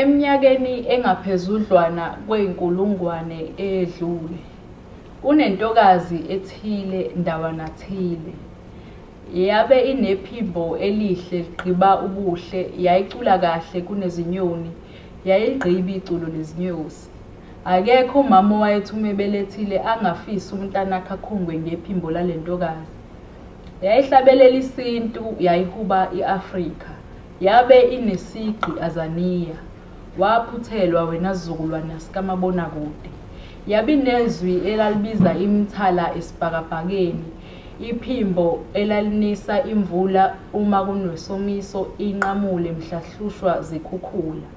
Eminyakeni engaphezudlwana kweyinkulungwane eyedlule, kunentokazi ethile ndawana thile. Yabe inephimbo elihle ligqiba ubuhle, yayicula kahle kunezinyoni, yayiligqiba iculo lezinyosi. Akekho umama owayethi uma ebelethile angafisi umntanakhe akhungwe ngephimbo lale ntokazi. Yayihlabelela isintu, yayihuba i-Afrika. Yabe inesigqi Azaniya. Waphuthelwa wena sizukulwana sikamabonakude. Yabinezwi elalibiza imithala esibhakabhakeni, iphimbo elalinisa imvula uma kunwesomiso inqamule mhlahlushwa zikhukhula.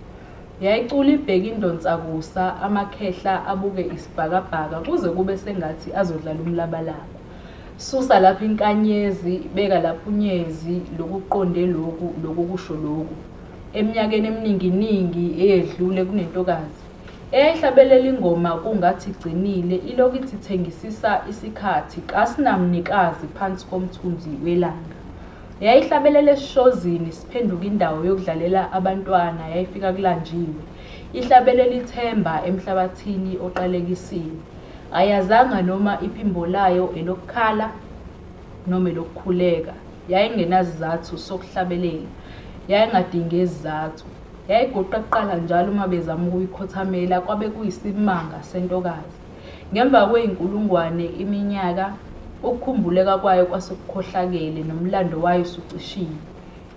Yayicula ibheke indonsakusa amakhehla abuke isibhakabhaka kuze kube sengathi azodlala umlabalaba. Susa lapha inkanyezi, beka lapha unyezi, lokhu kuqonde lokhu, lokhu kusho lokhu. Eminyakeni emininginingi eyedlule kunentokazi eyayihlabelela ingoma kungathi igcinile ilokhu ithi thengisisa isikhathi kasinamnikazi phansi komthunzi welanga. Yayihlabelela esishozini siphenduka indawo yokudlalela abantwana yayifika kulanjiwe. Ihlabelela ithemba emhlabathini oqalekisiwe. Ayazanga noma iphimbo layo elokukhala noma elokukhuleka. Yayingenasizathu sokuhlabelela. Yayingadingi izizathu. Yayigoqa kuqala njalo uma bezama ukuyikhothamela, kwabe kuyisimanga sentokazi. Ngemva kweyinkulungwane iminyaka, ukukhumbuleka kwayo kwase kukhohlakele, nomlando wayo usucishiwe.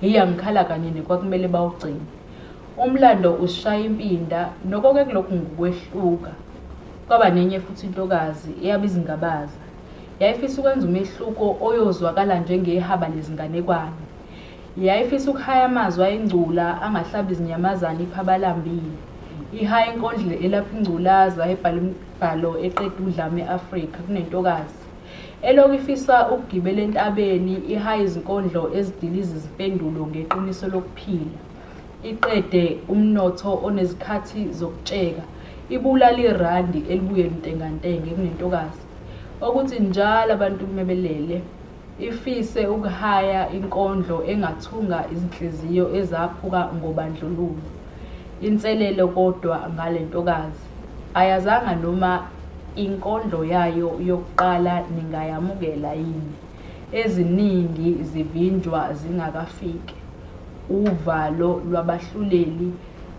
Hheyi angikhala kanini kwakumele bawugcine. Umlando usishaya impinda, noko ke kulokhu ngukwehluka. Kwaba nenye futhi intokazi eyaba izingabaza. Yayifisa ukwenza umehluko oyozwakala njengehaba lezinganekwane. Yayifisa ukuhaya amazwi ayingcula angahlaba izinyamazane iphaba alambile. Ihaya inkondlo elapha ingculaza ebhala imibhalo eqeda udlame e-Afrika kunentokazi. Elokhu ifisa ukugibela entabeni ihaye izinkondlo ezidiliza izimpendulo ngeqiniso lokuphila, iqede umnotho onezikhathi zokutsheka, ibulale irandi elibuye luntengantenge kunentokazi, okuthi njalo abantu uma belele, ifise ukuhaya inkondlo engathunga izinhliziyo ezaphuka ngobandlululo. Inselelo kodwa ngale ntokazi. Ayazanga noma inkondlo yayo yokuqala ningayamukela yini. Eziningi zivinjwa zingakafiki. Uvalo lwabahluleli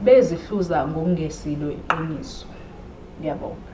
bezihluza ngokungesillo iqiniso. Ngiyabonga.